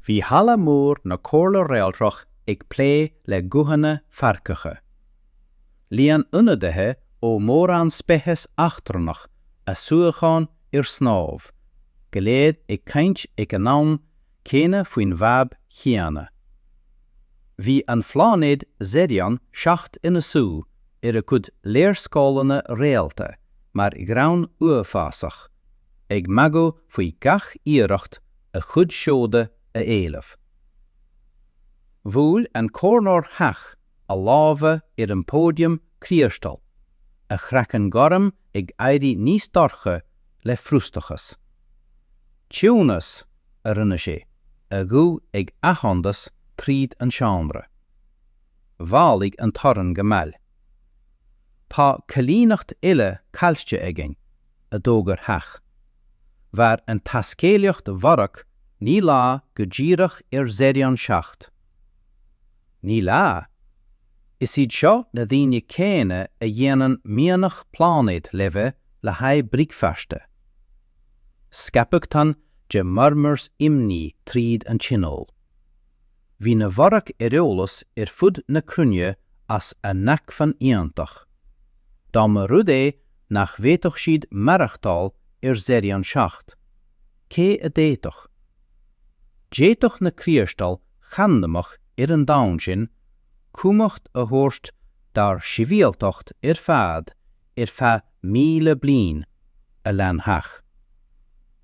Bhí halla mór na Comhairle Réaltrach ag pléascadh le guthanna feargacha. Líon ionadaithe ó mórán speiceas eachtrannach a suíocháin ar snámh, go léir ag caint ag an am céanna faoin bhfadhb chéanna. Bhí an pláinéad Xerion 7 ina suí ar a cuid léarscáileanna réalta mar ghreann uafásach, ag magadh faoi gach iarracht a chuid seoda a éileamh. Bhuail an comhairleoir Theach a lámha ar an póidiam criostail, a chraiceann gorm ag éirí níos dorcha le frustrachas. Ciúnas, a rinne sé, a ghuth ag athshonadh tríd an seomra. Mhaolaigh an torann go mall. Tá coilíneacht eile caillte againn. a d'fhógair Theach. Mhair an taiscéalaíocht mhairc naoi lá go díreach ar Xerion 7. Naoi lá. Is iad seo na daoine céanna a dhéanann mianach pláinéad laibhe le haghaidh bricfeasta. Scaipeadh tonn de murmurs imní tríd an tionól. Bhí na mhairc ar eolas ar fud na cruinne as a n-acmhainn iontach. Dá mba rud é nach bhféadfadh siad maireachtáil ar Xerion 7, cé a d'fhéadfadh? D'fhéadfadh na criostail chandamacha ar an domhan sin cumhacht a thabhairt dár sibhialtacht ar fad ar feadh míle bliain, a lean Theach.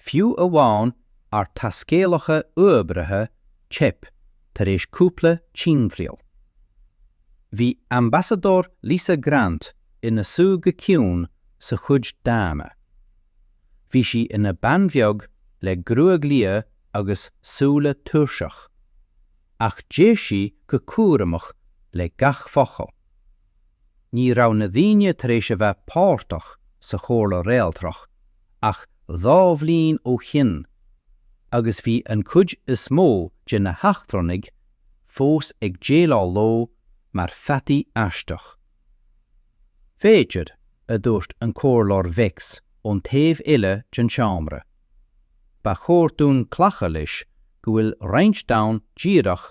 Fiú amháin ár dtaiscéalaithe uaibhreacha teip tar éis cúpla timthriall. Bhí Ambasadóir Lisa Grant ina suí go ciúin sa chuid daonna. Bhí sí ina bean bheag le gruaig liath agus súile tuirseacha. Ach d'éist sí go cúramach le gach focal. Ní raibh na daoine tar éis a bheith páirteach sa Chomhairle Réaltrach ach dhá bhliain ó shin agus bhí an chuid is mó de na heachtrannaigh fós ag déileáil leo mar pheataí aisteach. Bh'féidir, a dúirt an Comhairleoir Vex ón taobh eile den seomra, ba chóir dúinn glacadh leis go bhfuil roinnt domhan díreach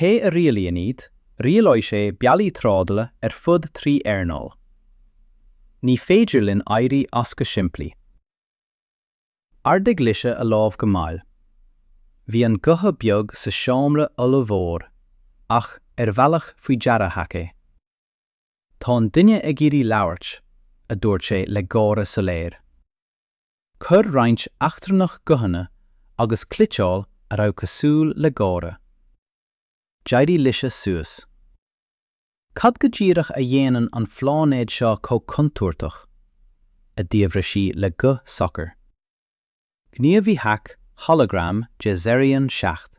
Cé a rialaíonn iad? Rialóidh sé bealaí trádála ar fud trí earnáil. Ní féidir linn éirí as go simplí. D'ardaigh Lisa a lámh go mall. Bhí an gotha beag sa seomra ollmhór ach ar bhealach faoi deara theach é. Tá an duine ag iarraidh labhairt, a dúirt sé le gáire soiléir. Chuir roinnt eachtrannach guthanna agus cliteáil a raibh cosúil le gáire. D'éirigh lise suas. Cad go díreach a dhéanann an phláinéad seo chomh contúirteach? a d'fhiafraigh sí le guth socair. Gníomhaí Hack holagram de Zerion 7.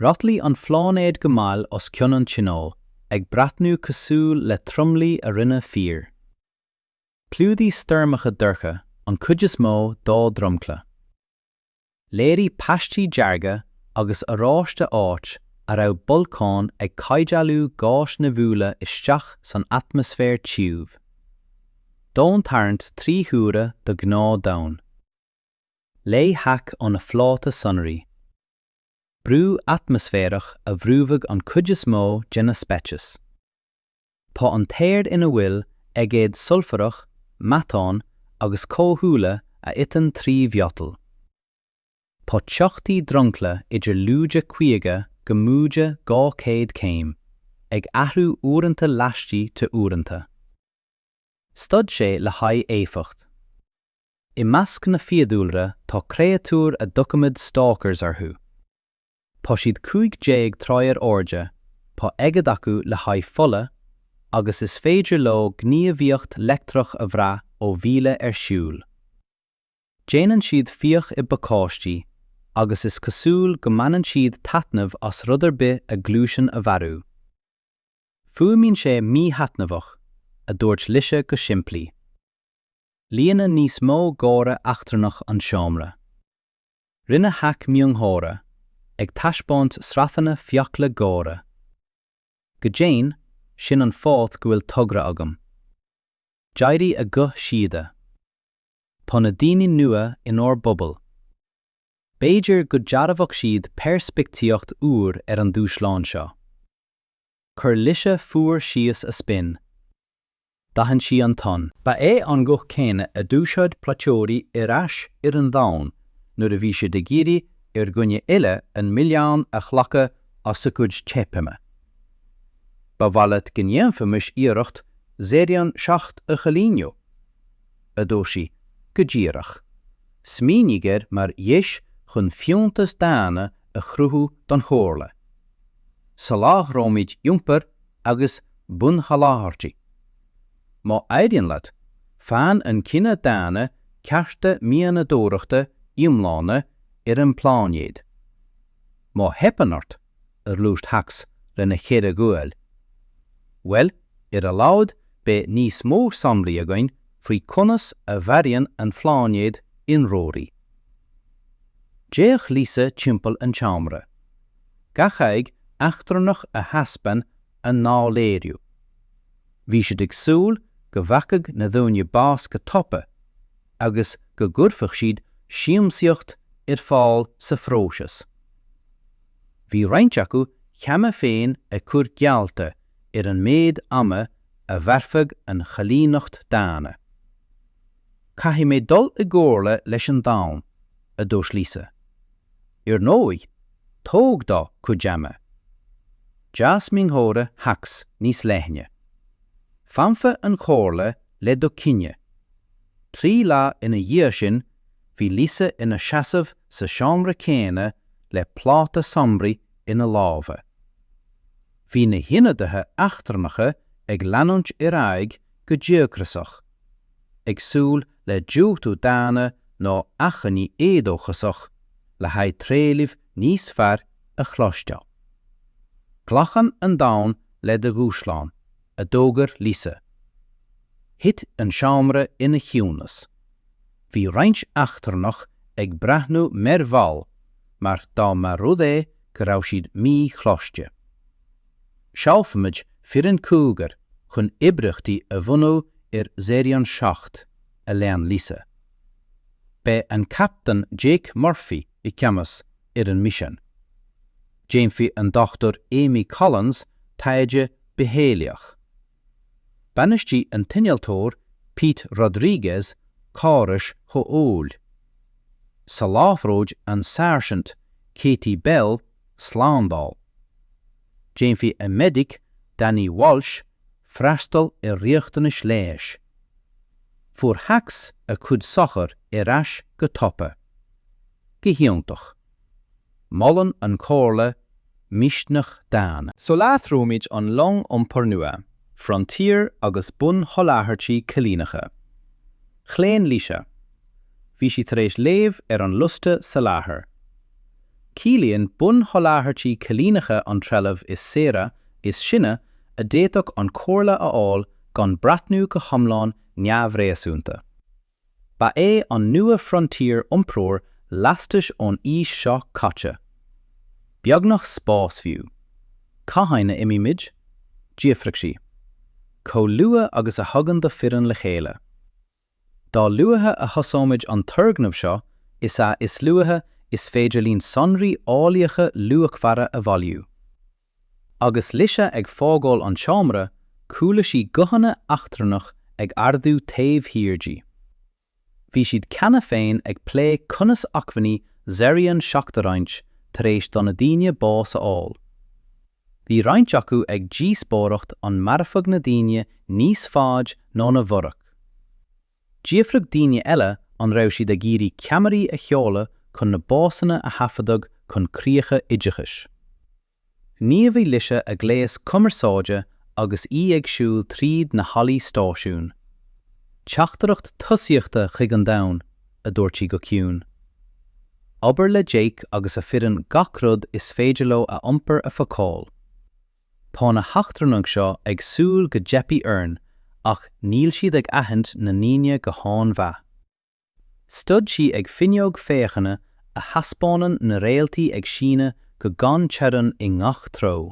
Rothlaigh an phláinéad go mall os cionn an Tionóil, ag breathnú cosúil le tromluí a rinne fir. Chlúdaigh stoirmeacha dorcha an chuid is mó dá dhromchla. Léirigh paistí dearga agus oráiste áit a raibh bolcáin ag caidhdealú gáis nimhiúla isteach san atmaisféar tiubh. Domhantarraingt trí huaire do ghnáth Domhan. Léigh Hack ó na phláta sonraí. Brú atmaisféarach a bhrúfadh an chuid is mó de na speicis. Tá an t-aer ina bhfuil aigéad sulfarach, meatán agus comhdhúile a iteann trí mhiotal. Tá teochtaí dromchla idir lúide 50 go móide 200 céim, ag athrú uaireanta laistigh de uaireanta. Stad sé le haghaidh éifeacht. I measc na fiadhúlra tá créatúir a dtugaimid stalkers orthu. Tá siad cúig déag troigh ar airde, tá aigéad acu le haghaidh fola, agus is féidir leo gníomhaíocht leictreach a bhrath ó mhíle ar shiúl. Déanann siad fiach i bpacáistí, agus is cosúil go mbaineann siad taitneamh as rud ar bith a ghluaiseann a mharú. Fuaimíonn sé míthaitneamhach, a dúirt Lise go simplí. Líonadh níos mó gáire eachtrannach an seomra. Rinne Hack miongháire, ag taispeáint sraitheanna fiacla géara. Go deimhin, sin an fáth go bhfuil togra agam. D'éirigh a guth síoda. Tá na daoine nua inár bpobal. B'fhéidir go dtabharfadh siad peirspictíocht úr ar an dúshlán seo. Chuir Lise fuar síos a spin. D'aithin sí an ton. Ba é an guth céanna a d'úsáid plaiteoirí ar ais ar an domhan nuair a bhí siad ag iarraidh ar dhuine eile an milleán a ghlacadh as a gcuid teipthe. Ba mhaith leat go ndéanfaimis iarracht Zerion 7 a choilíniú? a dúirt sí. Go díreach. Smaoinigh air mar dheis chun fiúntas daonna a chruthú don Chomhairle. Soláthróimid iompar agus bunsholáthairtí. Má éiríonn leat, faigheann an cine daonna cearta mianadóireachta iomlána ar an bpláinéad. Má theipeann ort, a dúirt Hax lena cheithre ghualainn. Bhuel, ar a laghad beidh níos mó samplaí againn faoi conas a mharaíonn an pláinéad ionróirí. D'fhéach Lisa timpeall an tseomra. gach aghaidh eachtrannach a thaispeáin a léiriú. Bhí siad ag súil go bhfaigheadh na daoine bás go tapa agus go gcuirfeadh siad siamsaíocht ar fáil sa phróiseas. Bhí roinnt acu cheana féin ag cur geallta ar an méid ama a mhairfeadh an choilíneacht daonna. Caithfidh mé dul i gcomhairle leis an domhan, a dúirt Lisa. Ar ndóigh, tóg do chuid ama. D'fhás miongháire Hax níos leithne. Fanfaidh an chomhairle le do chinneadh. Trí lá ina dhiaidh sin bhí Lisa ina seasamh sa seomra céanna le pláta sonraí ina lámha. Bhí na hionadaithe eachtrannacha ag claonadh ar aghaidh go díocasach, ag súil le diúltú daonna nó achainí éadóchasach le haghaidh trealaimh níos fearr a chloisteáil. Glacann an domhan le do dhúshlán, a d'fhógair Lisa. Thit an seomra ina chiúnas. Bhí roinnt eachtrannaigh ag breathnú mearbhall mar dá mba rud é go raibh siad míchloiste. Seolfaimid foireann cúigear chun oibríochtaí a bhunú ar Zerion 7, a lean Lisa. Beidh an Captaen Jake Murphy i gceannas ar an misean. Déanfaidh an Dr Amy Collins taighde bitheolaíoch. Bainisteoidh an t-innealtóir Pete Rodriguez córais chomhshaoil. Soláthróidh an Sáirsint Katie Bell slándáil. Déanfaidh an medic Danny Walsh freastal ar riachtanais leighis. Fuair Hax a chuid socrachta ar ais go tapa. Go hiontach. Molann an Chomhairle misneach daonna. Soláthróimid an long iompair nua, Frontier agus bun-sholáthairtí coilíneacha. Chlaon Lisa, Bhí sí tar éis léamh ar an liosta soláthair. Ciallaíonn bun-sholáthairtí coilíneacha an trealamh is saoire, is sine a d'fhéadfadh an Chomhairle a fháil gan breathnú go hiomlán neamhréasúnta. Ba é an New Frontier iompróir lastais ón aois seo caite. Beagnach spás fiú. Cathain a imímid? d'fhiafraigh sí. Chomh luath agus a thagann do foireann le chéile. Dá luaithe a thosóimid an turgnamh seo is ea is luaithe is féidir linn sonraí eolaíocha luachmhara a bhailiú. Agus Lisa ag fágáil an tseomra, chuala sí guthanna eachtrannach ag ardú taobh thiar di. Bhí siad cheana féin ag plé conas acmhainní Zerion seacht a roinnt tar éis do na daoine bás a fháil. Bhí roinnt acu ag díospóireacht an mairfeadh na daoine níos faide ná na Vorach. D'fhiafruigh daoine eile an raibh siad ag iarraidh ceamaraí a sheoladh chun na básanna a thaifeadadh chun críocha oideachais. Ghníomhaigh Lisa a gléas cumarsáide agus í ag siúl tríd na hallaí stáisiún. Teachtaireacht tosaíochta chuig an domhan a dúirt sí go ciúin. Abair le Jake agus a foireann gach rud is féidir leo a iompar a phacáil. Tá na heachtrannaigh seo ag súil go dteipfidh orainn ach níl siad ag aithint na ndaoine go han-mhaith. Stad sí ag finneog féachana a thaispeánann na réaltaí ag síneadh go gan teorainn i ngach treo.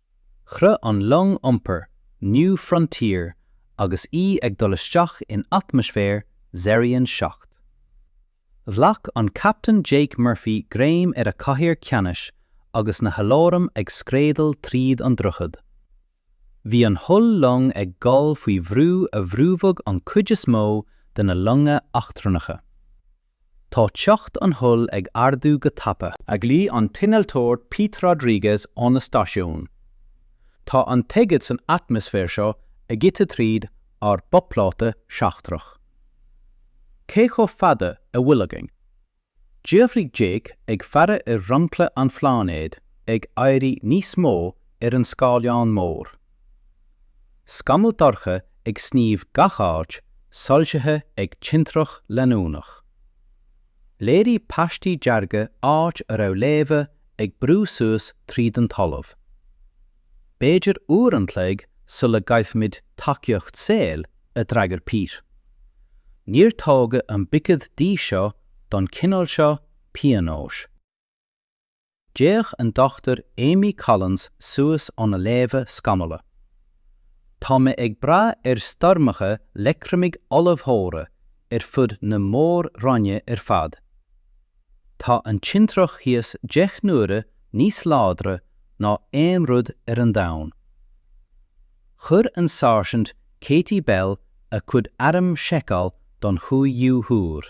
Chroith an long iompair New Frontier agus í ag dul isteach in atmaisféar Xerion 7. Ghlac an Captaen Jake Murphy greim ar a cathaoir ceannais agus na haláraim ag scréadail tríd an droichead. Bhí an hull long ag gol faoi bhrú a bhrúfadh an chuid is mó de na longa eachtrannacha. Tá teocht an hull ag ardú go tapa. A ghlaoigh an t-innealtóir Pete Rodriguez óna stáisiún. Tá an t-aigead san atmaisféar seo ag ithe tríd ár bpláta seachtrach. Cé chomh fada a bhfuil againn? D'fhiafraigh Jake ag faire ar dhromchla an phláinéid ag éirí níos mó ar an scáileán mór. Scamaill dorcha ag sníomh gach áit soilsithe ag tintreach leanúnach. Léirigh paistí dearga áit a raibh laibhe ag brú suas tríd an talamh. B'fhéidir uair an chloig sula gcaillfimid tacaíocht saoil a d'fhreagair Pete. Níor tógadh an buicéad dí seo don chineál seo pionóis. D'fhéach an Dr Amy Collins suas óna léamha scanála. Tá mé ag brath ar stoirmeacha leictreamaighnéadacha ollmhóra ar fud na mór-roinne ar fad. Tá an tintreach thíos deich n-uaire níos láidre ná aon rud ar an domhan. Chuir an Sáirsint Katie Bell a cuid arm a sheiceáil don chúigiú huair.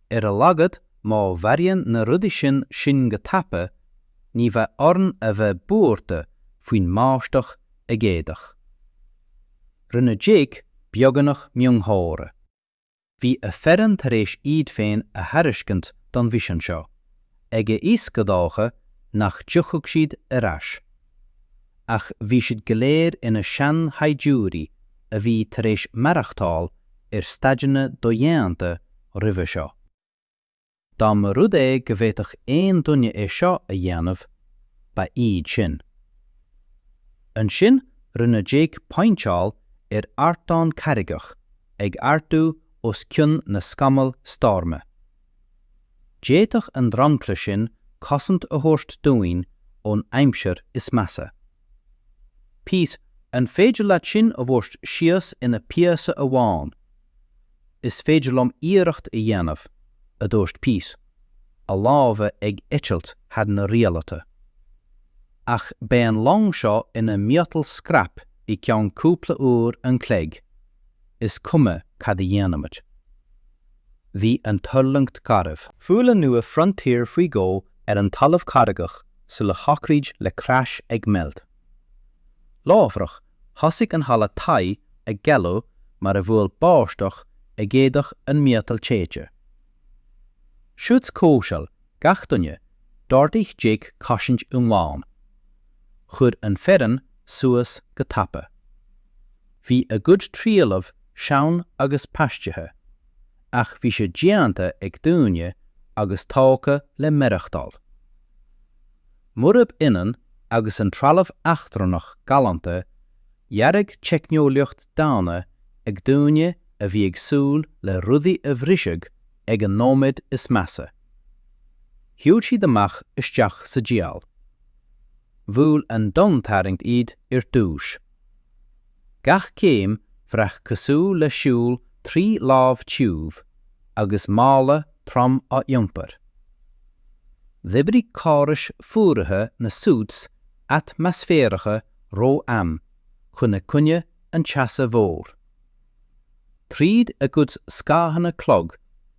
Ar a laghad má mharaíonn na rudaí sin sinn go tapa, ní bheidh orainn a bheith buartha faoin mbáisteach aigéadach. Rinne Jake beagnach miongháire. Bhí a fhoireann tar éis iad féin a thairiscint don mhisean seo, agus a fhios go dócha nach dtiocfadh siad ar ais. ach bhí siad go léir ina seanshaighdiúirí a bhí tar éis maireachtáil ar staideanna dodhéanta roimhe seo. Dá mba rud é go bhféadfadh aon duine é seo a dhéanamh, ba iad sin. Ansin rinne Jake pointeáil ar ardán carraigeach ag ardú os cionn na scamall stoirme. D'fhéadfadh an dromchla sin cosaint a thabhairt dúinn ón aimsir is measa. Píos. An féidir leat sinn a thabhairt síos ina phíosa amháin? Is féidir liom iarracht a dhéanamh, a dúirt Píos, a lámha ag eitilt thar na rialtáin. Ach beidh an long seo ina miotal scrap i gceann cúpla uair an chloig, is cuma cad a dhéanaimid. Bhí an tuirlingt garbh. Bhuail an Nua Frontier faoi dhó ar an talamh carraigeach sula shocraigh le crash ag meilt. Láithreach, thosaigh an halla taigh ag galú mar a bhuail báisteach aigéadach an miotal téite. Suits comhshaoil gach duine, d'ordaigh Jake cosaint iomlán. chuir an fhoireann suas go tapa. Bhí a gcuid trealaimh sean agus paistithe, ach bhí sé déanta ag daoine agus tógtha le maireachtáil. Murab ionann agus an trealamh eachtrannach galánta, dearadh teicneolaíocht daonna ag daoine a bhí ag súil le rudaí a bhrisfeadh ag an nóiméad is measa. Shiúil siad amach isteach sa diabhal. Bhuail an domhantarraingt iad ar dtús. Gach céim bhraith cosúil le siúl trí láib tiubh agus mála trom á iompar. D'oibrigh córais fuaraithe na suits atmaisféaracha ró-am chun i gcoinne an teasa mhóir. Tríd a gcuid scáthanna clog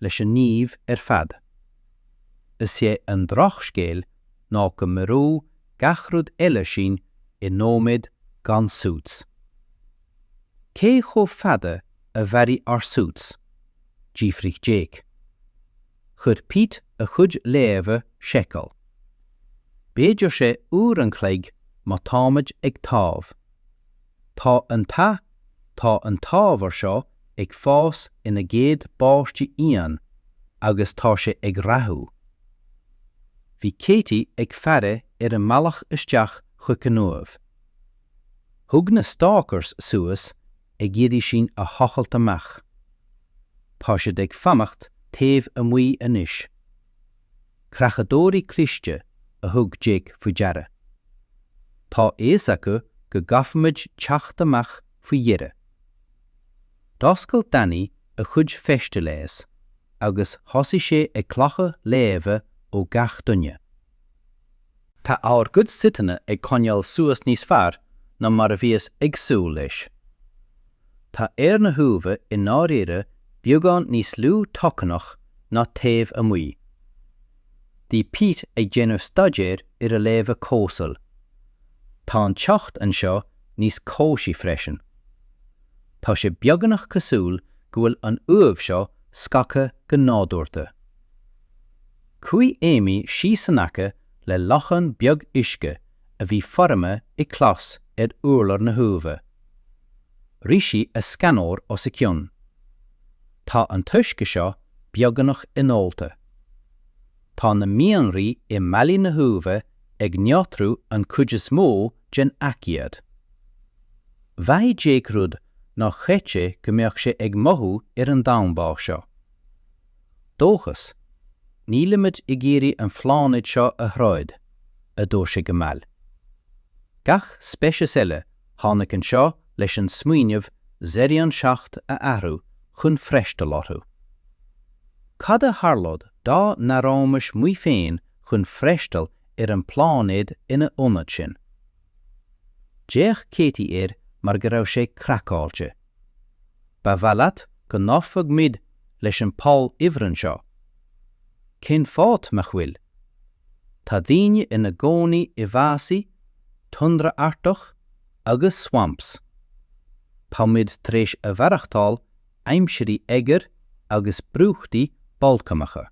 leis an Naomh ar fad. Is é an drochscéal ná go maróidh gach rud eile sinn i nóiméad gan suits. Cé chomh fada a mhairfidh ár suits? d'fhiafraigh Jake. Chuir Pete a chuid léamha seiceáil. B'fhéidir sé uair an chloig má táimid ag taobh. Tá an t-adh, tá an t-ábhar seo ag fás ina gcéad bpaistí fhiáin agus tá sé ag rathú. Bhí Katie ag faire ar an mbealach isteach chuig an uaimh. Thug na stalkers suas ag iarraidh sinn a thochailt amach. Tá siad ag fanacht taobh amuigh anois. Creachadóirí cliste a thug Jake faoi deara. Tá fhios acu go gcaithfimid teacht amach faoi dheireadh. D'oscail Danny a chuid feiste leighis agus thosaigh sé ag glacadh léamha ó gach duine. Tá ár gcuid suiteanna ag coinneáil suas níos fearr ná mar a bhíos ag súil leis. Tá aer na huaimhe i ndáiríre beagán níos lú tocsaineach ná taobh amuigh. Bhí Pete ag déanamh staidéir ar a léamha comhshaoil. Tá an teocht anseo níos cobhsaí freisin. Tá sé beagnach cosúil go bhfuil an uaimh seo scagtha go nádúrta. Chuaigh Amy síos in aice le lochán beag uisce a bhí foirmithe i gclais ar urlár na huaimhe. Rith sí a scanóir os a cionn. Tá an t-uisce seo beagnach inólta. Tá na mianraí i mballaí na huaimhe ag neotrú an chuid is mó den aigéad. Mhothaigh Jake rud nár chreid sé go mbeadh sé ag mothú ar an domhan báis seo. Dóchas, Nílimid ag iarraidh an phláinéad seo a throid, a dúirt sé go mall. Gach speiceas eile tháinig anseo leis an smaoineamh Zerion 7 a athrú chun freastal orthu. Cad a tharlódh dá n-athróimis muid féin chun freastal ar an bpláinéad ina ionad sin? D'fhéach Katie air mar go raibh sé craiceáilte. Ba mhaith leat go n-oirfeadh muid leis an bpoll ifrinn seo? Cén fáth nach bhfuil? Tá daoine ina gcónaí i bhfásaigh, tundra artach agus swamps. Tá muid tar éis a mhaireachtáil aimsirí oighir agus brúchtaí bolcaineacha.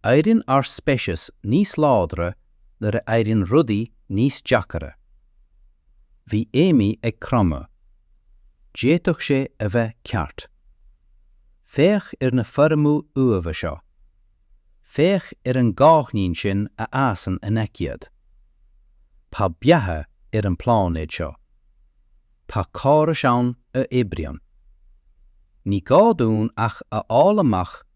Éirionn ár speiceas níos láidre nuair a éirionn rudaí níos deacaire. Bhí Amy ag cromadh. D'fhéadfadh sé a bheith ceart. Féach ar na foirmeacha uaimhe seo. Féach ar an gcáithnín sin a fhásann in aice iad. Tá beatha ar an bpláinéad seo. Tá córais ann a oibríonn. Ní gá dúinn ach a fháil amach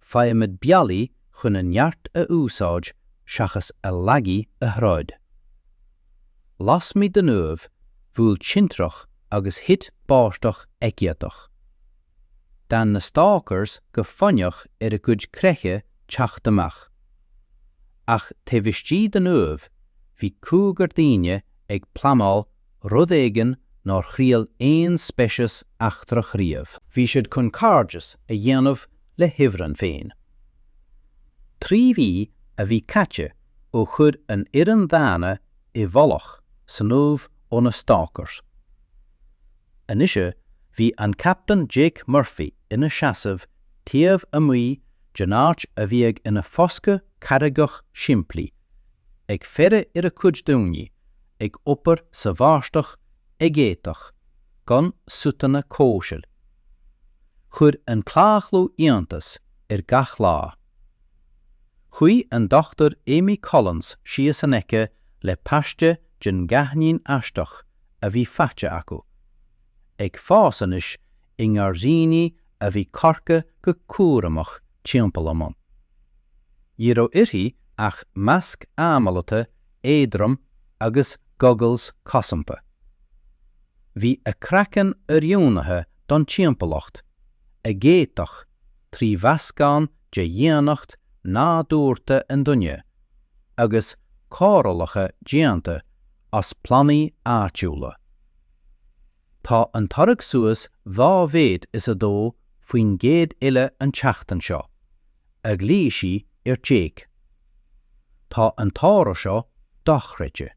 faighimid bealaí chun a neart a úsáid seachas a laigí a throid. Lasmuigh den Uaimh, bhuail tintreach agus thit báisteach aigéadach. D'fhan na stalkers go foighneach ar a gcuid creiche teacht amach. Ach taobh istigh den Uaimh, bhí cúigear daoine ag pleanáil rud éigin nár thriail aon speiceas eachtrach riamh. Bhí siad chun cairdeas a dhéanamh le hIfreann féin. Trí mhí a bhí caite ó chuir an fhoireann dhaonna i bhfolach san uaimh ó na Stalkers. Anois bhí an Captaen Jake Murphy ina sheasamh taobh amuigh den áit a bhíodh ina foscadh carraigeach simplí, ag faire ar a chuid daoine ag obair sa bháisteach aigéadach gan suiteanna comhshaoil. Chuir an cláochlú iontas air gach lá. Chuaigh an Dr Amy Collins síos in aice le paiste den gcáithnín aisteach a bhí faighte acu, ag fás anois i ngairdíní a bhí curtha go cúramach timpeall a mbun. Ní raibh uirthi ach masc análaithe éadrom agus goggles cosanta. Bhí a craiceann oiriúnaithe don timpeallacht aigéadach trí mheascán de dhaonnacht nádúrta an duine agus cóireálacha déanta as plandaí áitiúla. Tá an toradh suas dhá mhéad is a dó faoin gcéad eile an tseachtain seo, a ghlaoigh sí ar Jake. Tá an toradh seo dochreidte.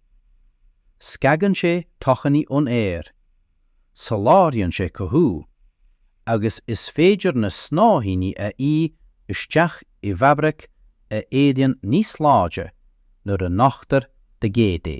Scagann sé tocsainí ón aer, soláthraíonn sé cothú, agus is féidir na snáithíní a fhí isteach i bhfabraic a éiríonn níos láidre nuair a nochtar d'aigéad é.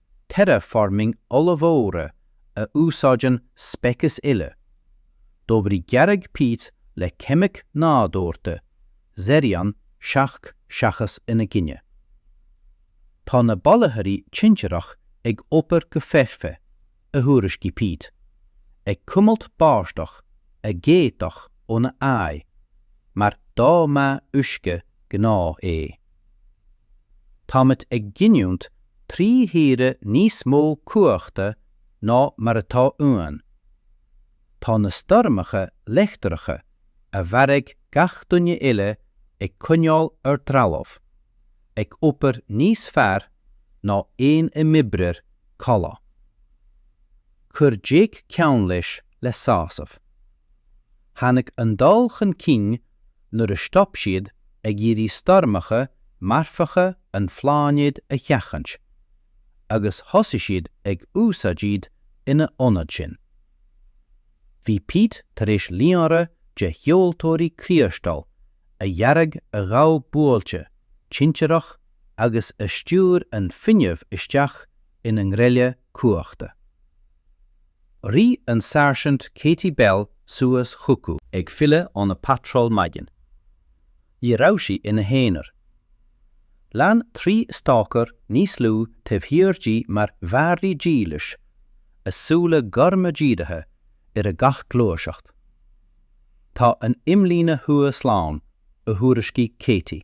terraforming ollmhóra a úsáideann speiceas eile, d'oibrigh dearadh Pete le ceimic nádúrta, Xerion 7 seachas ina gcoinne. Tá na bailitheoirí tintreach ag obair go foirfe, a thuairiscigh Pete, ag cuimilt báisteach aigéadach óna aghaidh, mar dá mba uisce gnáth é. Táimid ag giniúint trí huaire níos mó cumhachta ná mar atá uainn. Tá na stoirmeacha leictreacha a mharaigh gach duine eile ag coinneáil ár dtrealamh ag obair níos fearr ná aon imoibreoir comhleá. chuir Jake ceann leis le sásamh. Tháinig an dul chun cinn nuair a stop siad ag iarraidh stoirmeacha marfacha an phláinéid a sheachaint, agus thosaigh siad ag úsáid iad ina ionad sin. Bhí Pete tar éis líonra de sheoltóirí criostail a dhearadh a ghabh buailte tintireach agus a stiúir an fuinneamh isteach ina ngreille cumhachta. Rith an Sáirsint Katie Bell suas chucu. ag filleadh óna patról maidin. Ní raibh sí ina haonar. Lean trí stalker níos lú taobh thiar di mar mhadraí dílse, a súile gorma dírithe ar a gach gluaiseacht. Tá an imlíne thuaidh slán, a thuairiscigh Katie.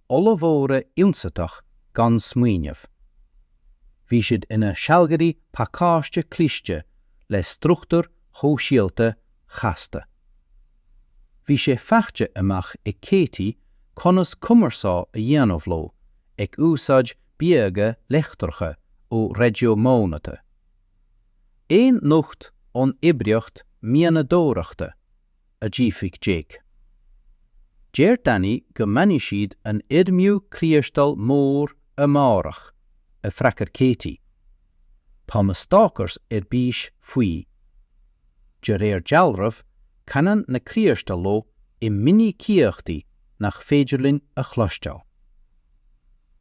ollmhóra ionsaitheacha gan smaoineamh. Bhí siad ina sealgairí pacáiste cliste le struchtúir shóisialta chasta. Bhí sé faighte amach ag Katie conas cumarsáid a dhéanamh leo ag úsáid bíoga leictreacha ó raidió mionathraithe. Aon nuacht ón oibríocht mianadóireachta a d'fhiafraigh Jake. Deir Danny go mbainfidh siad an fhoirmiú criostail mór amárach, a d'fhreagair Katie. Tá na stalkers ar bís faoi. De réir dealraimh canann na criostail leo i minicíochtaí nach féidir linn a chloisteáil.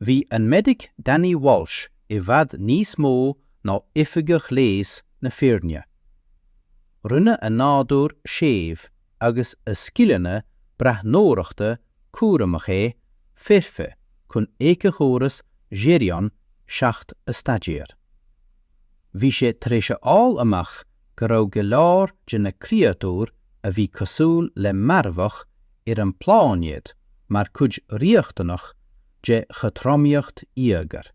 Bhí an medic Danny Walsh i bhfad níos mó ná oifigeach leighis na foirne. Rinne a nádúr séimh agus a scileanna breathnóireachta cúramach é foirfe chun éiceachóras Zhirion 7 a staidéar. Bhí sé tar éis a fháil amach go raibh go leor de na créatúir a bhí cosúil le marfach ar an bpláinéad mar chuid riachtanach de chothromaíocht íogair.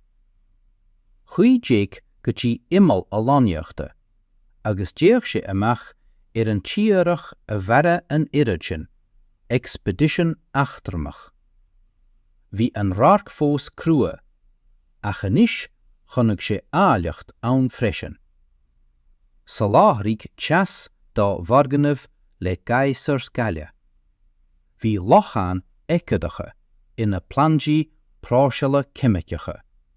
Chuaigh Jake go dtí imeall a lonnaíochta, agus d'fhéach sé amach ar an tírdhreach a mharaigh an oiread sin expedition eachtrannach. Bhí an radharc fós crua, ach anois chonaic sé áilleacht ann freisin. Soláthraíodh teas dá bhfoirgnimh le geysers gaile. Bhí locháin aigéadacha ina bplandaí próiseála ceimiceacha.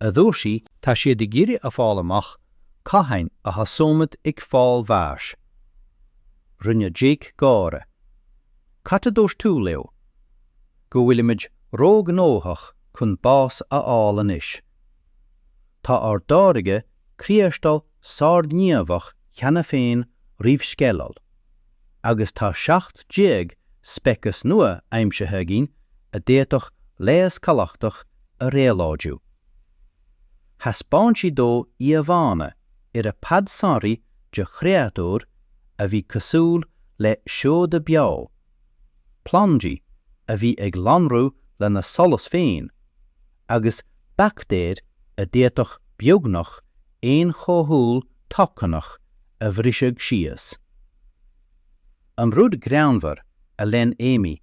a dúirt sí. Tá siad ag iarraidh a fháil amach cathain a thosóimid ag fáil bháis. Rinne Jake gáire. Cad a dúirt tú leo? Go bhfuilimid róghnóthach chun bás a fháil anois. Tá ár dtáirgeadh criostail sárghníomhach cheana féin roimh sceideal. agus tá 17 speiceas nua aimsithe againn a d'fhéadfadh leigheas galachtach a réabhlóidiú. Thaispeáin sí dó íomhánna ar a pad sonraí de chréatúir a bhí cosúil le seoda beo, plandaí a bhí ag lonrú lena solas féin, agus baictéir a d'fhéadfadh beagnach aon chomhdhúil thocsaineach a bhriseadh síos. An rud greannmhar, a lean Amy,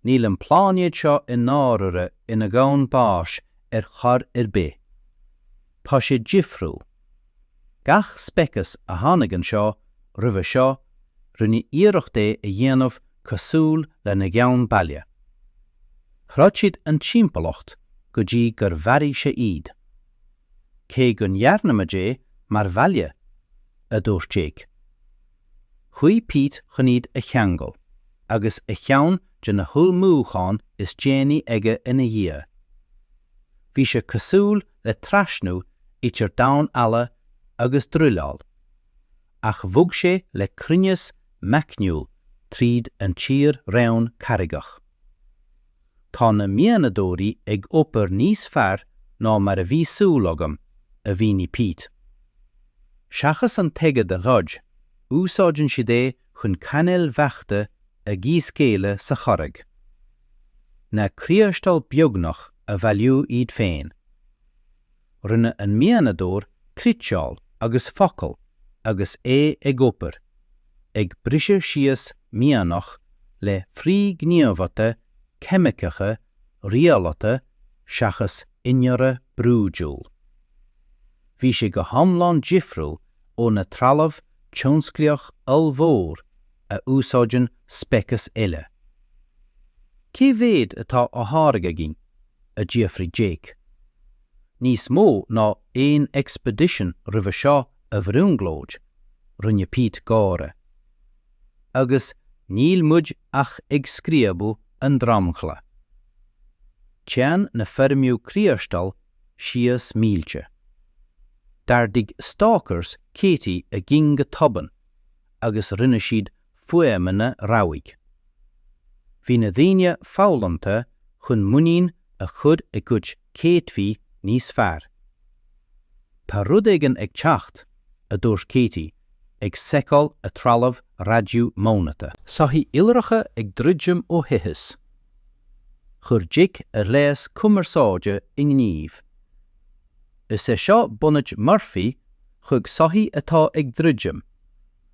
níl an pláinéad seo i ndáirire ina dhomhan báis ar chor ar bith. Tá sé difriúil. Gach speiceas a tháinig anseo roimhe seo, rinne iarracht é a dhéanamh cosúil lena gceann baile. Throid siad an timpeallacht go dtí gur mharaigh sé iad. Cé go ndéanann muid é mar bhaile, a dúirt Jake. Chuaigh Pete chun iad a cheangal, agus ceann de na hullmhúcháin is déanaí aige ina dhiaidh. Bhí sé cosúil le trasnú idir damhán alla agus druileáil, ach bhog sé le cruinneas meicniúil tríd an tír-raon carraigeach. Tá na mianadóirí ag obair níos fearr ná mar a bhí súil agam, a mhínigh Pete. Seachas an t-aigéad a throid, úsáideann siad é chun cainéil bheachta a dhíscaoileadh sa charraig. Na criostail beagnach a bhailiú iad féin. Rinne an mianadóir criteáil agus focal agus é ag obair, ag briseadh síos mianach le frithghníomhartha ceimiceacha rialata seachas fórsa brúidiúil. Bhí sé go hiomlán difriúil ó na trealamh tionsclaíoch ollmhór a úsáideann speiceas eile. Cé mhéad atá á tháirgeadh againn? a d'fhiafraigh Jake. Níos mó ná aon expedition roimhe seo, a bhrionglóidigh, rinne Pete gáire. Agus níl muid ach ag scríobadh an dromchla. Téann na foirmithe criostail síos mílte. D'ardaigh stalkers Katie a gcinn go tobann agus rinne siad fuaimeanna rabhaidh. Bhí na daoine foghlamtha chun muinín a chur ina gcuid céadfaí níos fearr. Tá rud éigin ag teacht, a dúirt Katie, ag seiceáil a trealamh raidió móilíneach. Soithí iolracha ag druidim ó fhithis. Chuir Jake a ghléas cumarsáide i ngníomh. Is é seo bunáit Murphy chuig soithí atá ag druidim.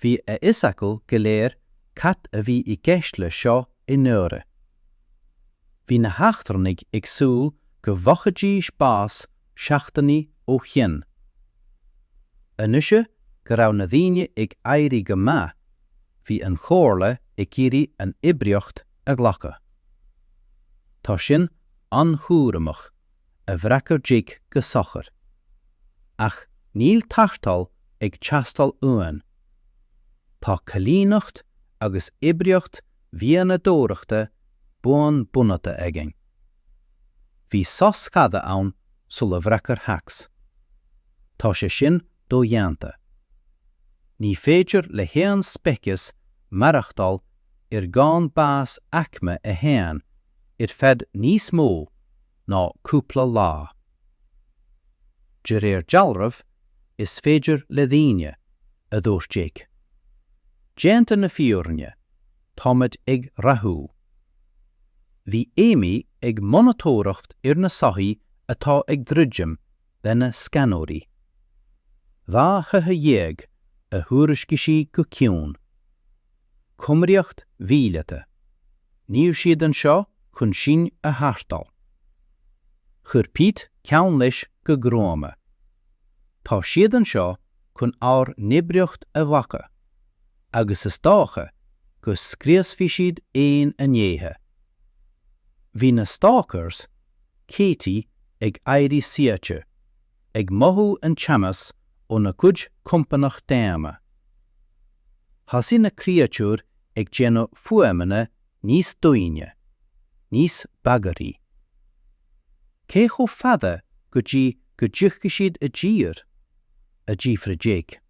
Bhí a fhios acu go léir cad a bhí i gceist le seo i ndáiríre. Bhí na heachtrannaigh ag súil go bhfaighidís bás seachtainí ó shin. Anois go raibh na daoine ag éirí go maith, bhí an Chomhairle ag iarraidh an oibríocht a ghlacadh. Tá sin an-chúramach. a d'fhreagair Jake go sochair. Ach níl tarrtháil ag teastáil uainn. Tá coilíneacht agus oibríocht mhianadóireachta buan bunaithe againn. Bhí sos fada ann sular fhreagair Thex. Tá sé sin dodhéanta. Ní féidir le haon speiceas maireachtáil ar dhomhan báis aicme a haon ar feadh níos mó ná cúpla lá. De réir dealraimh, is féidir le daoine, a dúirt Jake. Déanta na fírinne, táimid ag rathú. Bhí Amy ag monatóireacht ar na soithí atá ag druidim lena scanóirí. Dhá shoitheach déag a thuairiscigh sí go ciúin. Cumraíocht mhíleata. Níl siad anseo chun sinn a tharrtháil. Chroith Pete ceann leis go gruama. Tá siad anseo chun ár n-oibríocht a ghlacadh agus is dócha go scriosfaidh siad aon fhinnéithe. Bhí na Stalkers Katie ag éirí suaite, ag mothú an teannas óna gcuid compánach daonna. Thosaigh na créatúir ag déanamh fuaimeanna níos doimhne, níos bagraí. Cé chomh fada go dtí go dtiocfaidh siad i dtír? a d'fhiafraigh Jake.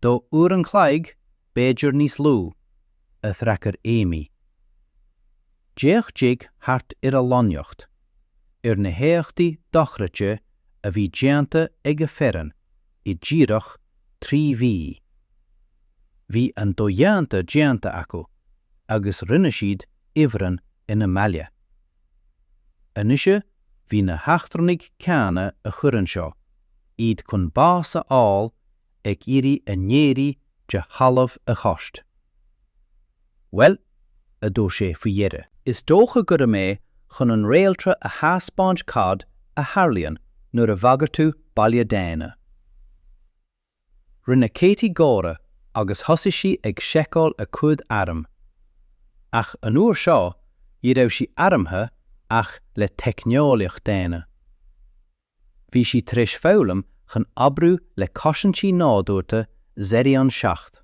Dhá uair an chloig, b'fhéidir níos lú. a threacair Amy. D'fhéach Jake thart ar a lonnaíocht, ar na héachtaí dochreidte a bhí déanta ag a foireann i díreach trí mhí. Bhí an dodhéanta déanta acu agus rinne siad ifreann ina mbaile. Anois bhí na heachtrannaigh céanna a chuir anseo iad chun bás a fháil ag iarraidh a n-éirí de thalamh a thabhairt. Bhuel, a dúirt sé faoi dheireadh. is dócha go raibh mé chun an réaltra a theaspáint cad a tharlaíonn nuair a bhagraíonn tú baile daonna. Rinne Katie gáire agus thosaigh sí ag seiceáil a cuid airm. Ach an uair seo, ní raibh sí armtha ach le teicneolaíocht daonna. Bhí sí tar éis foghlaim chun oibriú le cosaintí nádúrta Xerion 7.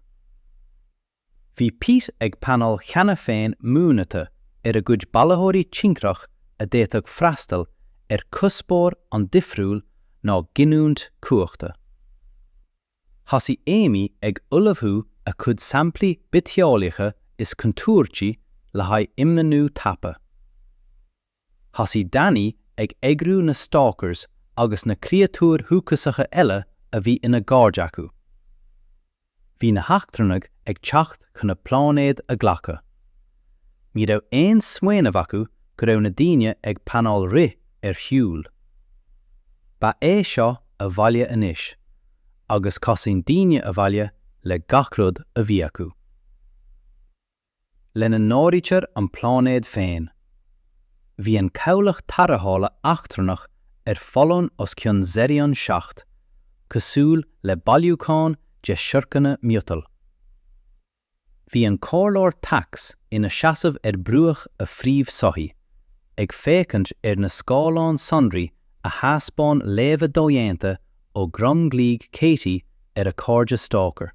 Bhí Pete ag pleanáil cheana féin mionathruithe ar a gcuid bailitheoirí tintreach a d'fhéadfadh freastal ar chuspóir an-difriúil ná giniúint cumhachta. Thosaigh Amy ag ullmhú a cuid samplaí bitheolaíocha is contúirtí le haghaidh imlonnú tapa. Thosaigh Danny ag eagrú na stalkers agus na créatúir dhúchasacha eile a bhí ina gcairde acu. Bhí na heachtrannaigh ag teacht chun a pláinéad a ghlacadh. Ní raibh aon smaoineamh acu go raibh na daoine ag pleanáil rith ar shiúl. Ba é seo a bhaile anois, agus cosnaíonn daoine a bhaile le gach rud a bhí acu. lena n-áirítear an pláinéad féin. Bhí an cabhlach tarrthála eachtrannach ar foluain os cionn Xerion 7, cosúil le bailiúchán de shiorcanna miotail. Bhí an comhairleoir Tax ina seasamh ar bhruach a phríomhshoithigh, ag féachaint ar na scáileáin sonraí a thaispeáin léamha dodhéanta ó dhromchlaí Katie ar a cairde Stalker.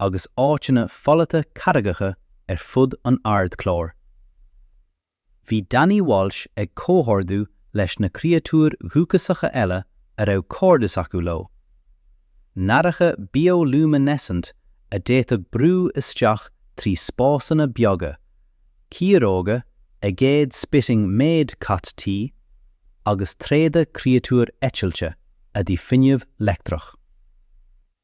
agus áiteanna folaithe carraigeacha ar fud an ardchlár. Bhí Danny Walsh ag comhordú leis na créatúir dhúchasacha eile a raibh cairdeas acu leo, nathracha bioluminescent a d'fhéadfadh brú isteach trí spásanna beaga, ciaróga aigéad spitting méid cat tí, agus tréada créatúir eitilte a d'ith fuinneamh leictreach.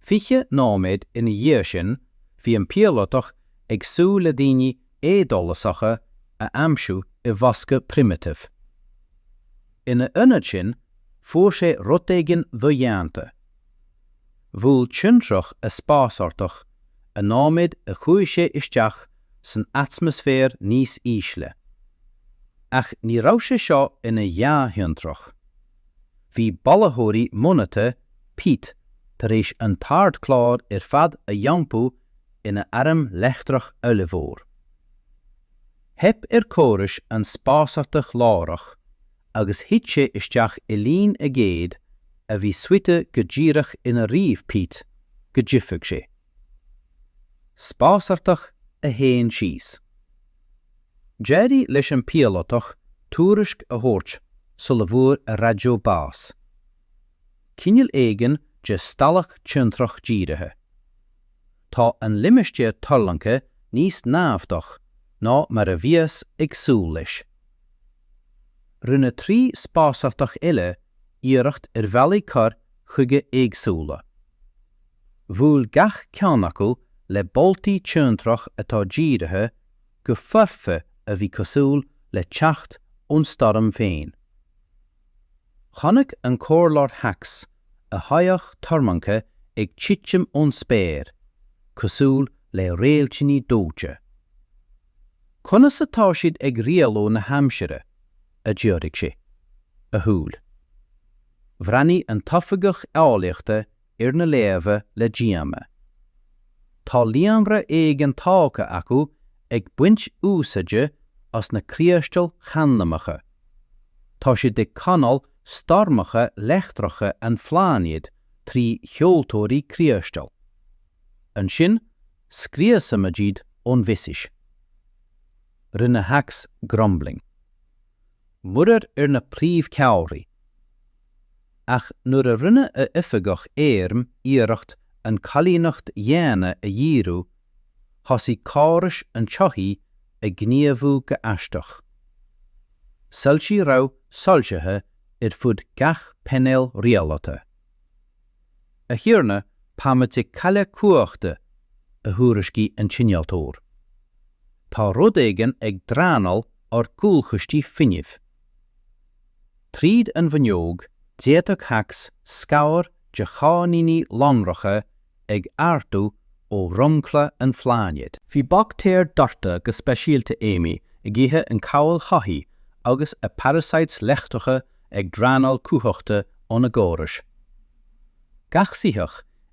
Fiche nóiméad ina dhiaidh sin bhí an píolótach ag súil le daoine éadóchasacha a aimsiú i bhfoscadh primitive. Ina ionad sin fuair sé rud éigin dodhéanta. Bhuail tintreach a spásárthach an nóiméad a chuaigh sé isteach san atmaisféar níos ísle. Ach ní raibh sé seo ina ghnáth-thintreach. Bhí bailitheoirí modhnaithe Pete tar éis an t-ardchlár ar fad a iompú ina airm leictreach ollmhór. Theip ar córais an spásárthach láithreach agus thit sé isteach i linn aigéad a bhí suite go díreach inar ríomh Pete go dtitfeadh sé. Spásárthach a haon síos. D'éirigh leis an bpíolótach tuairisc a thabhairt sula bhfuair a raidió bás. Cineál éigin de stailc tintreach dírithe. Tá an limistéar tuirlingthe níos naimhdeach ná mar a bhíothas ag súil leis. Rinne trí spásárthach eile iarracht ar bhealaí cur chuige éagsúla. Bhuail gach ceann acu le boltaí tintreach atá dírithe go foirfe a bhí cosúil le teacht ón stoirm féin. Chonaic an Comhairleoir Hax a shoitheach tuirlingthe ag titim ón spéir, cosúil le réiltíní dóite. Conas atá siad ag rialú na haimsire? a d'fhiafraigh sé. A shúil. Bhreathnaigh an t-oifigeach eolaíochta ar na léamha le díomá. Tá líonra éigin tógtha acu ag baint úsáide as na criostail chandamacha. Tá siad ag canáil stoirmeacha leictreacha an phláinéid trí sheoltóirí criostail. Ansin scriosaimid iad ón bhfithis. Rinne Hax grumbling. Muirear ar na príomhcheallraí. Ach nuair a rinne a oifigeach airm iarracht an choilíneacht dhaonna a dhíriú, thosaigh córais an tsoithigh ag gníomhú go aisteach. Soilse rabhaidh soilsithe ar fud gach painéal rialaithe. A Thiarna, táimid ag cailleadh cumhachta, a thuairiscigh an t-innealtóir. Tá rud éigin ag draenáil ár gcúlchistí fuinnimh. Tríd an bhfuinneog d'fhéadfadh Hacks scamaill de cháithníní lonracha ag ardu ó dhromchla an phláinéid. Bhí baictéir deartha go speisialta Amy ag ithe an chabhail shoithí agus a parasites leictreacha ag draenáil cumhachta óna gcórais. Gach soitheach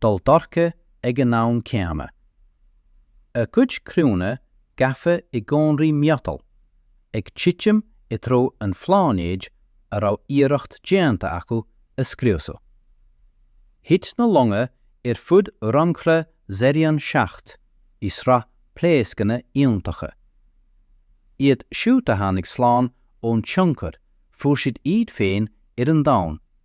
dul dorcha ag an am céanna. A gcuid criúnna gafa i gcónraí miotail, ag titim i dtreo an phláinéid a raibh iarracht déanta acu a scriosadh. Thit na longa ar fud dhromchla Xerion 7 i sraith pléascanna iontacha. Iad siúd a tháinig slán ón tionchar fuair siad iad féin ar an Domhan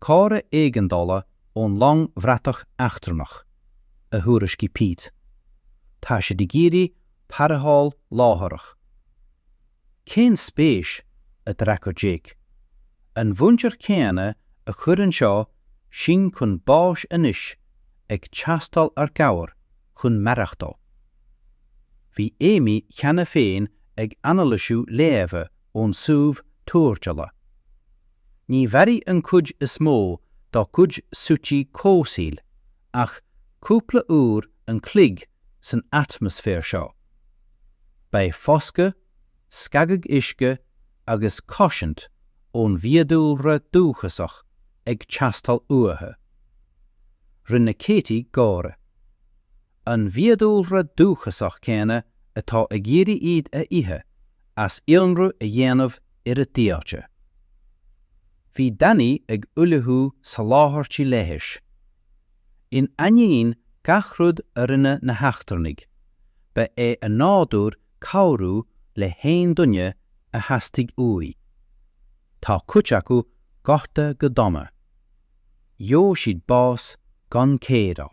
Comhartha éigeandála ón long bhratach eachtrannach, a thuairiscigh Pete. Tá siad ag iarraidh tarrtháil láithreach. Cén spéis a d'fhreagair Jake? An mhuintir chéanna a chuir anseo sinn chun báis anois ag teastáil ár gcabhair chun maireachtáil. Bhí Amy cheana féin ag anailisiú léamha ón suíomh tuairteála. Ní mhairfidh an chuid is mó dá gcuid suití comhsaoil ach cúpla uair an chloig san atmaisféar seo. Beidh foscadh, scagadh uisce agus cosaint ón bhfiadhúlra dúchasach ag teastáil uathu. Rinne Katie gáire. an bhfiadhúlra dúchasach céanna atá ag iarraidh iad a ithe, as ionradh a dhéanamh ar a dtailte. Bhí Danny ag ullmhú soláthairtí leighis. In ainneoin gach rud a rinne na heachtrannaigh, ba é a nádúr cabhrú le haon duine a theastaigh uaidh. Tá cuid acu gortaithe go dona. Gheobhaidh siad bás gan cóireáil.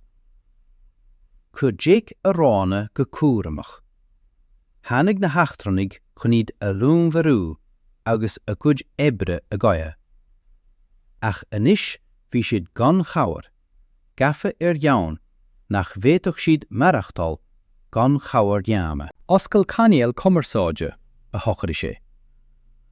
Chuir Jake a roghanna go cúramach. Tháinig na heachtrannaigh chun iad a dhúnmharú agus a gcuid oibre a ghoid. Ach anois bhí siad gan chabhair, gafa ar dhomhan nach bhféadfadh siad maireachtáil gan chabhair dhaonna. Oscail cainéal cumarsáide, a shocraigh sé.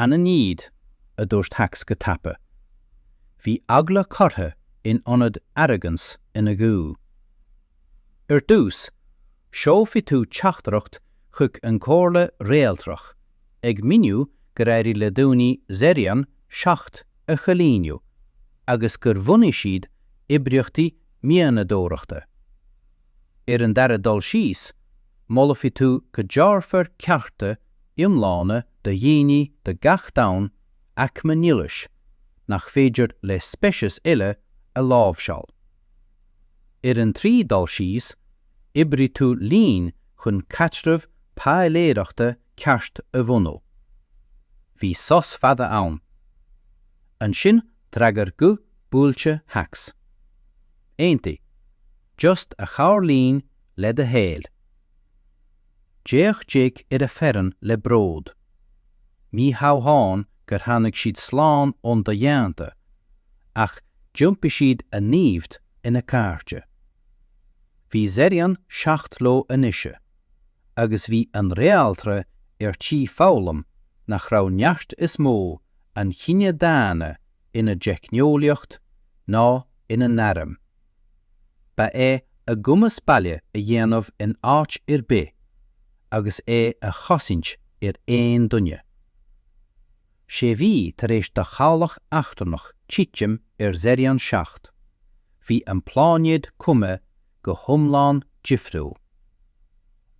'Ainmnigh iad, a dúirt Hacks go tapa. Bhí eagla curtha in ionad arrogance ina ghuth. 'Ar dtús, seolfaidh tú teachtaireacht chuig an gComhairle Réaltrach ag miniú gur éirigh le daoine Zerion 7 a choilíniú agus gur bhunaigh siad oibríochtaí mianadóireachta. Ar an dara dul síos, molfaidh tú go dtabharfar cearta iomlána do dhaoine de gach domhan aicme nialais nach féidir le speicis eile a láimhseáil. Ar an tríú dul síos, oibreoidh tú linn chun caidreamh páiléireachta ceart a bhunú. Bhí sos fada ann. Ansin d'fhreagair guth buailte Shacs. Aontaigh. Just cabhair linn le do shaol. D'fhéach Jake ar a fhoireann le bród. Ní hamháin gur tháinig siad slán ón do-dhéanta, ach d'iompaigh siad a naimhde ina cairde. Bhí Zeryan 7 leo anois, agus bhí an Réaltra ar tí foghlaim nach raibh neart is mó an chine daonna ina dteicneolaíocht ná ina n-airm. Ba é a gcumas baile a dhéanamh in áit ar bith agus é a chosaint ar aon duine. Sé mhí tar éis do chabhlach eachtrannach titim ar Zeryan 7, bhí an pláinéad cuma go hiomlán difriúil.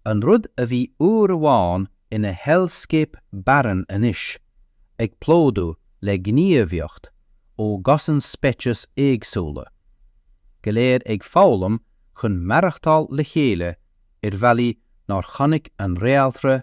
An rud a bhí uair amháin ina hellscape barren anois ag plódú le gníomhaíocht ó dhosaen speiceas éagsúla, go léir ag foghlaim chun maireachtáil le chéile ar bhealaí nár chonaic an réaltra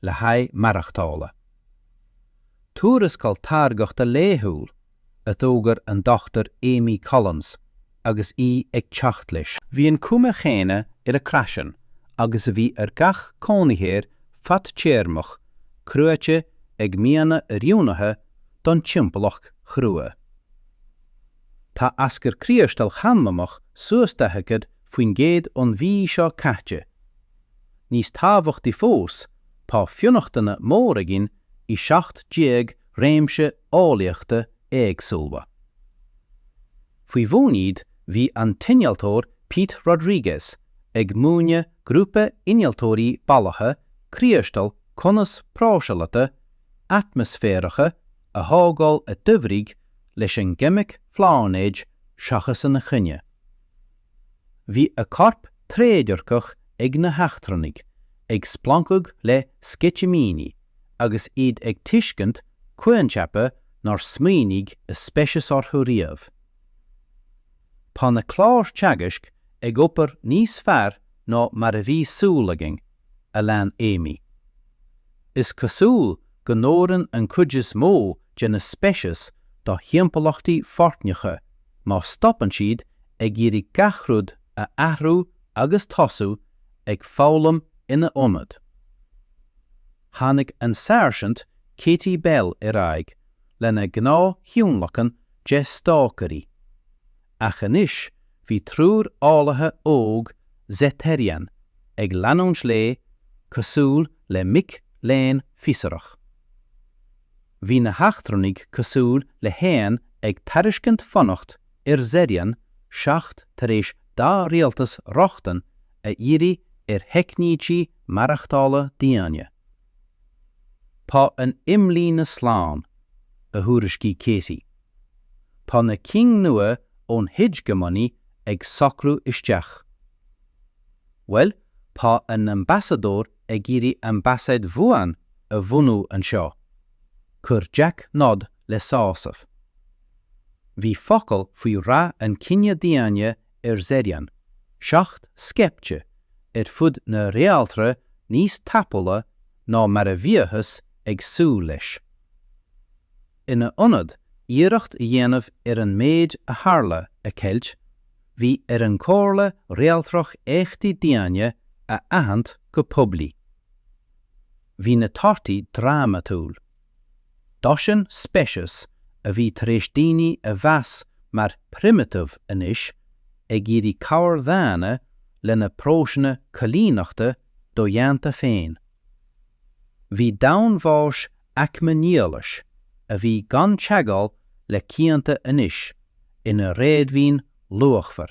le haghaidh maireachtála. Tuarascáil táirgeachta laethúil a d'fhógair an Dr Amy Collins agus í ag teacht leis. Bhí an chuma chéanna ar a craiceann agus a bhí ar gach cónaitheoir fadtéarmach cruaite ag mianraí oiriúnaithe don timpeallacht chrua. Tá aschur criostail chandamach suas 40% ón mhí seo caite. Níos tábhachtaí fós, tá fionnachtana mór againn i seacht déag réimse eolaíochta éagsúla. Faoi bhun iad bhí an t-innealtóir Pete Rodriguez ag múineadh grúpa innealtóirí ballacha criostail conas próiseálaithe atmaisféaracha a thógáil a d'oibrigh leis an gceimic phláinéid seachas ina choinne. Bhí a gcoirp trédhearcach ag na heachtrannaigh ag splancadh le sceitimíní agus iad ag tuiscint coincheapa nár smaoinigh a speiceas orthu riamh. Tá na cláir teagaisc ag obair níos fearr ná mar a bhí súil againn. a lean Amy. Is cosúil go n-oireann an chuid is mó de na speicis do thimpeallachtaí foircneacha má stopann siad ag iarraidh gach rud a athrú agus tosú ag foghlaim ina ionad. Tháinig an Sáirsint Katie Bell ar aghaidh lena gnáth-thionlacan de 'Stácairí', ach anois bhí triúr eolaithe óg Zeterian ag leanúint léi cosúil le mic léinn fiosracha. Bhí na heachtrannaigh cosúil le héan ag tairiscint fanacht ar Zerion 7 tar éis dá rialtas rochtain a iarraidh ar theicnící maireachtála daonna. Tá an imlíne slán, a thuairiscigh Katie. Tá na cinn nua ón Hegemony ag socrú isteach. Bhuel, tá a n-ambasadóir ag iarraidh Ambasaid Bhuan a bhunú anseo. Chuir Jack nod le sásamh. Bhí focal faoi rath an chine daonna ar Zerion 7 scaipte ar fud na réaltra níos tapúla ná mar a bhíothas ag súil leis. Ina ionad iarracht a dhéanamh ar an méid a tharla a cheilt, bhí ar an Chomhairle Réaltrach éachtaí daonna a aithint go poiblí. Bhí na torthaí drámatúil. Dosaen speiceas a bhí tar éis daoine a mheas mar 'primitive' anois ag iarraidh cabhair dhaonna lena bpróisis coilíneachta dodhéanta féin. Bhí domhain bháis aicme nialais a bhí gan teagháil le cianta anois ina réadmhaoin luachmhar.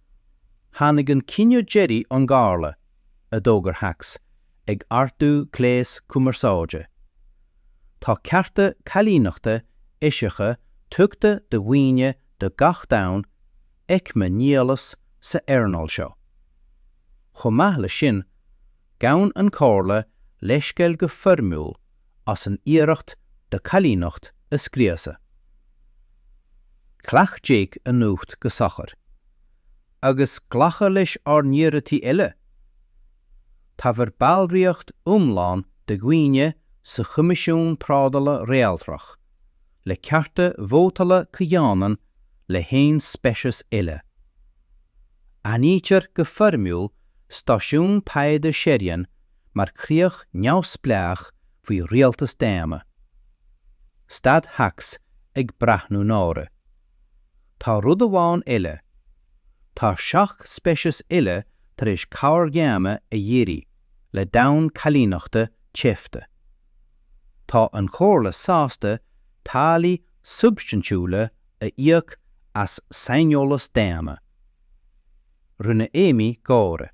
Tháinig an cinneadh deiridh ón gComhairle, a d'fhógair Hacks, ag ardú gléas cumarsáide. Tá cearta coilíneachta eisiacha tugtha do dhaoine do gach domhan aicme nialais sa earnáil seo. Chomh maith leis sin, gabhann an Chomhairle leithscéal go foirmiúil as an iarracht do choilíneacht a scriosadh. Ghlac Jack an nuacht go socair. Agus glacadh lenár n-iarratais eile. Tabhair ballraíocht iomlán do dhaoine sa Choimisiún Trádála Réaltrach le cearta vótála comhionann le haon speiceas eile. Aithnítear go foirmiúil stáisiún taighde Zerion mar chríoch neamhspleách faoi rialtas daonna. Stad Shacs ag breathnú náire. Tá rud amháin eile. Tá seacht speiceas eile tar éis cabhair dhaonna a iarraidh le domhain choilíneachta teipthe. Tá an Chomhairle sásta táillí substaintiúla a íoc as saineolas daonna. Rinne Amy gáire.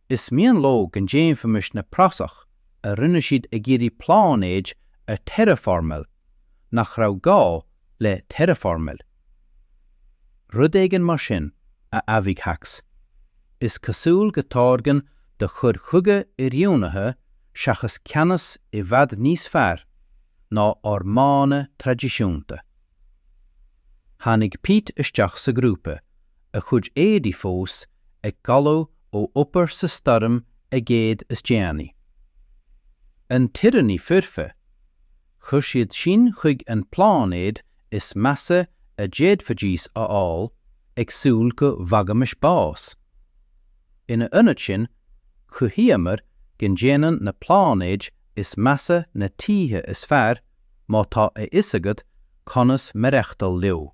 Is mian leo go ndéanfaimis na praisigh a rinne siad ag iarraidh pláinéid a terraformail nach raibh gá le terraformail. Rud éigin mar sin, a d'admhaigh Shacs, is cosúil go táirgeann do chur chuige oiriúnaithe seachas ceannas i bhfad níos fearr ná ár modhanna traidisiúnta. Tháinig Pete isteach sa ghrúpa a chuid éadaí fós ag galú ó obair sa stoirm aigéid is déanaí. An t-íoróin foirfe, chuir siad sinn chuig an pláinéad is measa a d'fhéadfaidís a fháil, ag súil go bhfaighimis bás. Ina ionad sin, chruthaíomar go ndéanann na pláinéid is measa na tithe is fearr má tá a fhios agat conas maireachtail leo.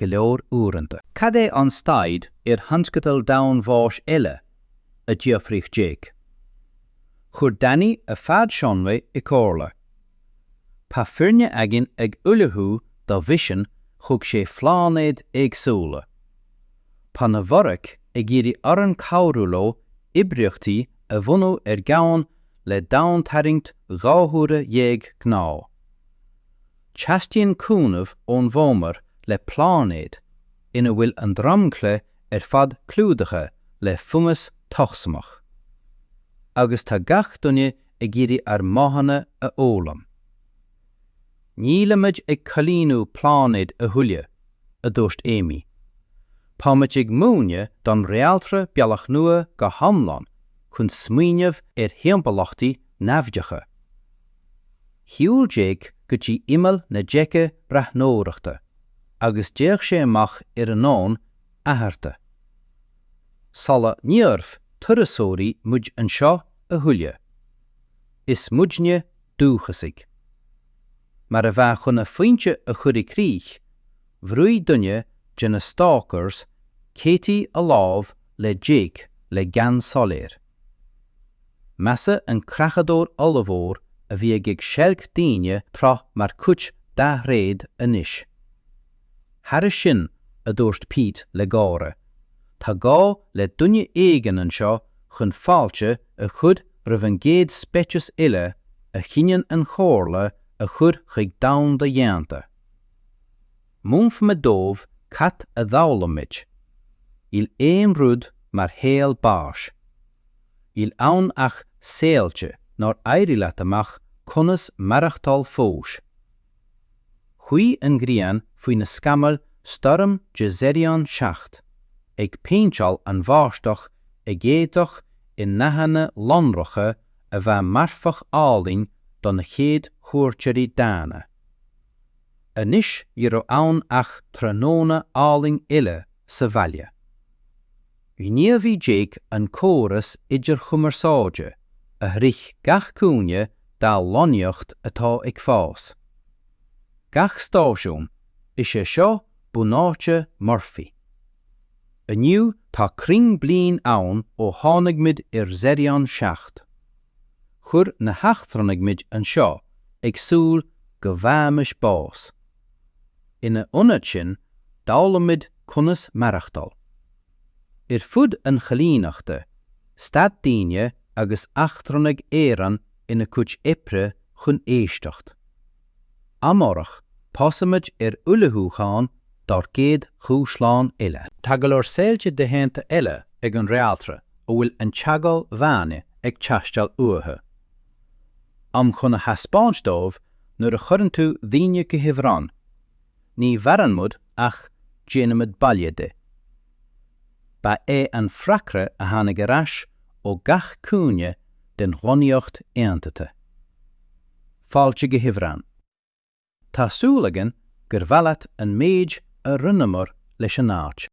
go leor uaireanta. Cad é an staid ar thionscadal domhan bháis eile? a d'fhiafraigh Jake. Chuir Danny a phead sonraí i gcomhairle. Tá foirne againn ag ullmhú do mhisean chuig sé phláinéad éagsúla. Tá na Vorac ag iarraidh orainn cabhrú leo oibríochtaí a bhunú ar dhomhain le domhantarraingt dhá huaire dhéag gnáth. Teastaíonn cúnamh ón bhfómhar le pláinéad ina bhfuil an dromchla ar fad clúdaithe le fungas tocsaineach. Agus tá gach duine ag iarraidh ár modhanna a fhoghlaim. Nílimid ag coilíniú pláinéid a thuilleadh, a dúirt Amy. Táimid ag múineadh don réaltra bealach nua go hiomlán chun smaoineamh ar thimpeallachtaí naimhdeacha. Shiúil Jake go dtí imeall na deice breathnóireachta agus d'fhéach sé amach ar an domhan athartha. Ní turasóirí muid anseo a thuilleadh. Is muidne dúchasaigh. Mar a bheadh chun a phointe a chur i gcrích, Bhrúigh duine de na stalkers Katie a lámh le Jake le gean soiléir. Measadh an creachadóir ollmhór a bhí ag seilg daoine tráth mar chuid dá thréad anois. Thairis sin, a dúirt Pete le gáire, tá gá le duine éigin anseo chun fáilte a chur roimh an gcéad speiceas eile a chinneann an chomhairle a chur chuig domhan dodhéanta. Múinfidh mé dóibh cad a d'fhoghlaim muid. Níl aon rud mar shaol báis. Níl ann ach saolta nár éirigh leat amach conas maireachtáil fós. Chuaigh an ghrian faoi na scamaill stoirm de Zerion 7 ag péinteáil an bháisteach aigéadach i ndathanna lonracha a bheadh marfach álainn do na chéad chuairteoirí dána. Anois ní raibh ann ach tráthnóna álainn eile sa bhaile. Ghníomhaigh Jake an córas idirchumarsáide a shroich gach cúinne dá lonnaíocht atá ag fás. Gach stáisiún, is é seo bunáite Murphy. Inniu tá cruinn bliain ann ó tháinig muid ar Zerion 7. Chuir na heachtrannaigh muid anseo ag súil go bhfaighimis bás. Ina ionad sin, d'fhoghlaim muid conas maireachtáil. Ar fud an choilíneachta, stad daoine agus eachtrannaigh araon ina gcuid oibre chun éisteacht. Amárach tosóimid ar ullmhúchán dár gcéad dúshlán eile. Tá go leor saolta dodhéanta eile ag an réaltra a bhfuil an teagmháil dhaonna ag teastáil uathu. Am chun a thaispeáint dóibh nuair a chuireann tú daoine go hIfreann, ní mhaireann muid ach déanann muid baile de. Ba é an freagra a tháinig ar ais ó gach cúinne den lonnaíocht aontaithe. Fáilte go hIfreann. Tá súil againn gur maith leat an méid a rinneamar leis an áit.